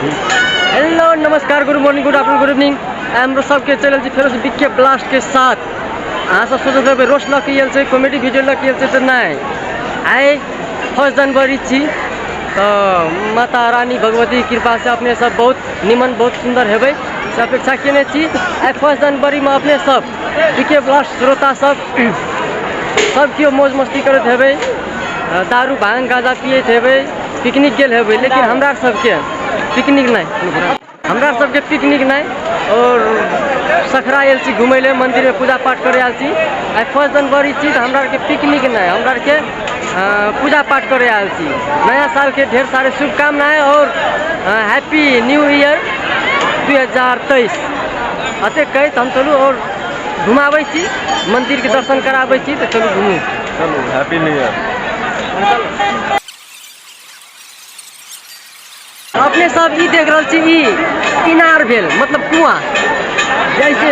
hello नमस्कार good morning good afternoon good evening हाम्रो सबके चैनल चाहिँ फेरि विज्ञ ब्लास्टके साथ अहाँ सब सोचल जब रोस्ट लग के छै कॉमेडी वीडियो लग के छै तऽ नहि आइ फर्स्ट जनवरी छी तऽ माता रानी भगवती कृपा से अपने सब बहुत निमन बहुत सुंदर हेबै से अपेक्षा केने छी आइ फर्स्ट जनवरीमे अपने सब पीके प्लस श्रोता सब सब केओ मौज मस्ती करत हेबै दारू भांग गाजा पियत हेबै पिकनिक गेल हेबै लेकिन हमरा सबके पिकनिक नहीं हमरा सबके पिकनिक नहीं और सखरा आयल छी घूमे ले मंदिर में पूजा पाठ करे आयल छी आई फर्स्ट जनवरी छी हमरा के पिकनिक नहीं हमरा के पूजा पाठ करे आयल छी नया साल के ढेर सारे शुभकामनाएं और हैप्पी न्यू ईयर दू हजार तेईस अते कहैत हम चलू आओर घुमाबै छी मन्दिरके दर्शन कराबै छी तऽ चलू घुमू चलू हैप्पी न्यू ईयर अपने सब ई देख रहल छी ई इनार भेल मतलब कुआँ जैसे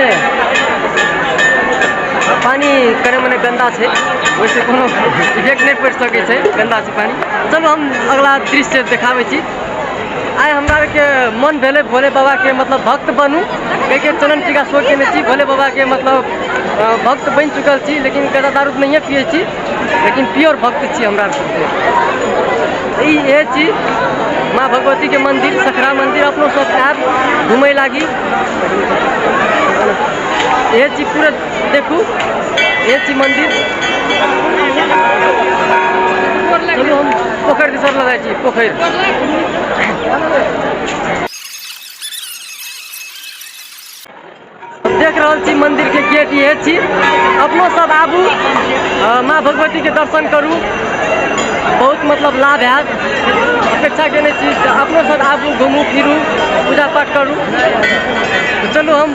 पानी करे मने गन्दा छै वैसे कोनो इफेक्ट नहि पड़ि सकै छै गन्दा छै पानी चलू हम अगला दृश्य देखाबै छी आइ हमरा के मन भेले भोले बाबा के मतलब भक्त बनू एक एक चरण टीका सो के छी भोले बाबा के मतलब भक्त बन चुकल छी लेकिन कदा दारू नहीं पिए छी लेकिन प्योर भक्त छी हमरा ये छी माँ भगवती के मंदिर सखरा मंदिर अपनों सब आयब घूमे लागी ये छी पूरा देखू ये छी मंदिर चलू हम पोखर दिसर लऽ जाइ छी पोखरि देख रहल छी मंदिर के गेट ये छी अपनो सब आबू अ, माँ भगवती के दर्शन करू बहुत मतलब लाभ हैत अपेक्षा केने छी जे अपनो सब आबू घुमू फिरू पूजा पाठ करू तऽ चलू हम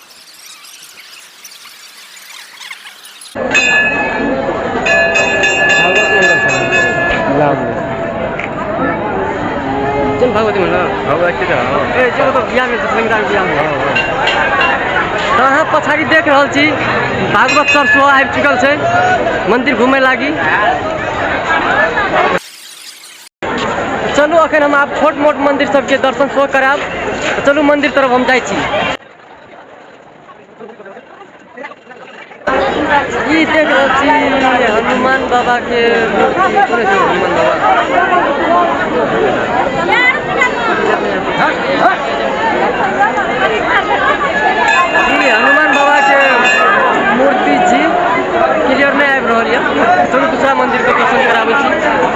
चल भागवती म्हणलं भागवती ए चलो तो बिया में संगीतार बिया में तो अहाँ पछाड़ी देख रहल छी भागवत सर सेहो आबि चुकल छै मंदिर घूमे लागी चलू अखन हम आब छोट मोट मंदिर सबके दर्शन सेहो करायब चलू मंदिर तरफ हम जाइ छी ई देख रहल छी हनुमान बाबा के मूर्ति कोने छै हनुमान बाबा ई हनुमान बाबा के मूर्ति छी क्लियर नहि आबि रहल यऽ चलू दूसरा मंदिर के दर्शन कराबै छी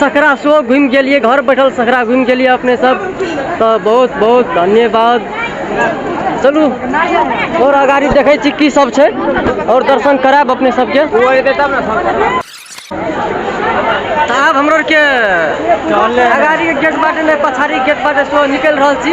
सखरा शो घूमि गेलिए घर बैठल सखरा घूमि गेलिए अपने सब तो बहुत बहुत धन्यवाद चलू और अगाड़ी देखे छी की सब छै और दर्शन कराब अपने सबके आब हमरो के अगाड़ी के गेट बाटे ने पछाड़ी गेट बाटे सो निकल रहल छी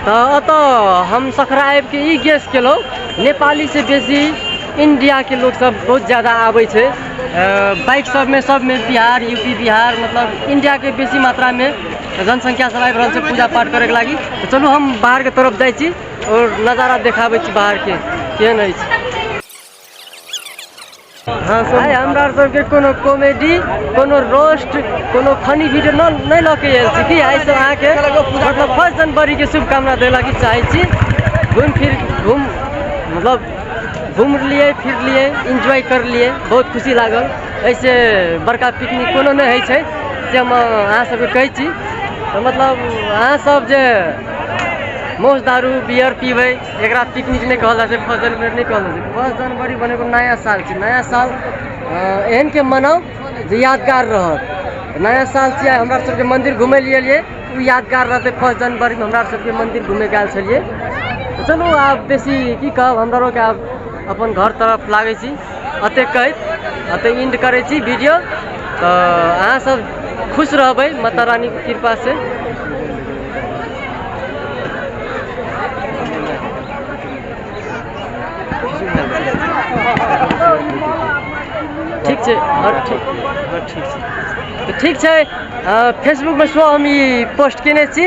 तऽ एतऽ हम सखरा आबिके ई गेस केलहुँ नेपालीसँ बेसी इन्डियाके लोकसब बहुत ज्यादा आबै छै बाइक सबमे सबमे बिहार यू पी बिहार मतलब इन्डियाके बेसी मात्रामे जनसङ्ख्या सब आबि रहल छै पूजा पाठ करैके लागि तऽ चलू हम बाहरके तरफ जाइ छी आओर नजारा देखाबै छी बाहरके केहन अछि आइ हमरा आर सबके कोनो कॉमेडी कोनो रोस्ट कोनो फनी वीडियो न नहि लऽ के आयल छी कि आइ सब अहाँके मतलब फर्स्ट जनवरी के शुभकामना देला के चाहै छी घूम फिर घूम मतलब घूम लिए फिर लिए एंजॉय कर लिए बहुत खुशी लागल ऐसे बड़का पिकनिक कोनो नहि होइ छै से हम अहाँ सबके कहै छी तऽ मतलब अहाँ सब जे मौज दारू बियर पीबै एकरा पिकनिक नहीं कहल जाए फर्स्ट जनवरी नहीं कहल जाए फर्स्ट जनवरी बने एगो नया साल छे नया साल एहन के मनाओ जो यादगार रहत नया साल छे हमरा सबके मंदिर घूमे लिए लिए उ यादगार रहते फर्स्ट जनवरी में हमरा सबके मंदिर घूमे गए छलिए तो चलो आप बेसी की कहब हमरा के आप अपन घर तरफ लागे छी अते कहैत अते इंड करै छी वीडियो तऽ अहाँ सब खुश रहबै माता रानी के कृपा से ठीक छै हर ठीक हर ठीक छै तऽ ठीक छै फेसबुकमे सेहो हम ई पोस्ट केने छी